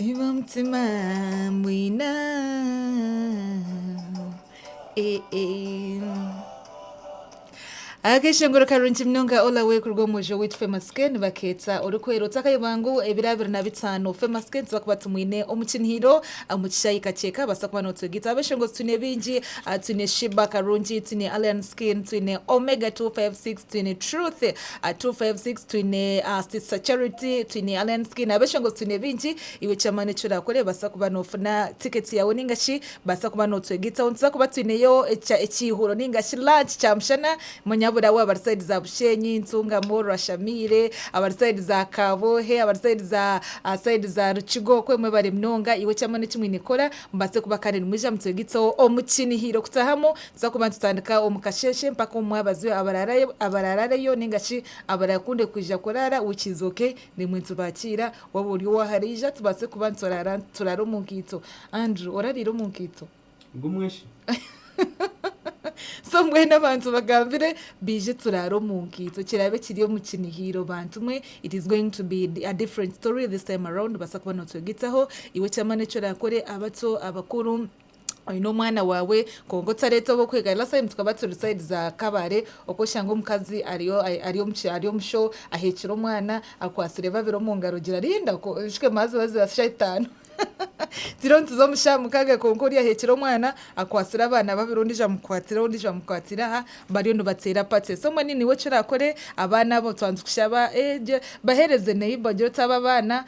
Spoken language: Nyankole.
Iba omutima mbwina Akeshongoro karungi munonga all the way kuruga omu muji owaitu Famous Gen baketsa orikwera otakayo bangu ebiro abiri na bitaano Famous Gen tubakuba tumwine omu kinihiiro omu kishaayi kakyeka baasa kuba notwega itwe abeshongozi twine bingi twine Sheebah Karungi twine Alien Skin twine Omega 256 twine Truth Aha 256 twine Sister Charity, twine Alliance Skin, abeshongozi twine bingi. Iwe eky'amaani eki oraakora ebaasa kuba noofuna tiketi yaawe nainga shi baasa kuba nootwegaitaho. Nituza kuba twineyo ekya ekiihuro nainga shi lunch kyamushana. Manya buri abari sayidi za Bushenyi, Ntungamo, Rwashamiire, abari sayidi za Kaboohe, abari sayidi za aha sayidi za Rukiga okwe mwebare munonga. Iwe eky'amaani eki mwine kukora mubaase kuba kandi nimwija mutwegaitseho omu kiinihiiro kutaahamu Tuza kuba nitutandika omu kasheeshe mpaka omu mwabazi abaraarareyo nainga shi abaraakunde kwija kuraara wiiki izooke nimwo nitubakiira. Waaba ori owaaharaija tubaase kuba nituraara turaare omu nkaito. Andrew, Orariire omu nkaito? Ngumwe shi. So mbwenu abantu bagambire baije turaare omu nkaito kiraabe kiri omu kinihiiro bantu mwe. It is going to be a different story this time around. Nobaasa kuba nootwegyetaho iwe eky'amaani eki oraakore, abato, abakuru. oyine omwana wawe kwonka otareta owokwegaruza last time tukaba turi side za kabale oku oshanga omukazi ari omu show ahekire omwana akwatsire babiri omu ngaro ogira rinda nshushe mazi oba za sha itano turiyo nituza omu sha mukaga kwonka oriya ahekire omwana akwatsire abana babiri ondijo amukwatire aha ondijo amukwatire aha bariyo nibatera party so mbwenu niwe eki orakore abana abo twandikusha bahereze neighbor ogira oti abo abana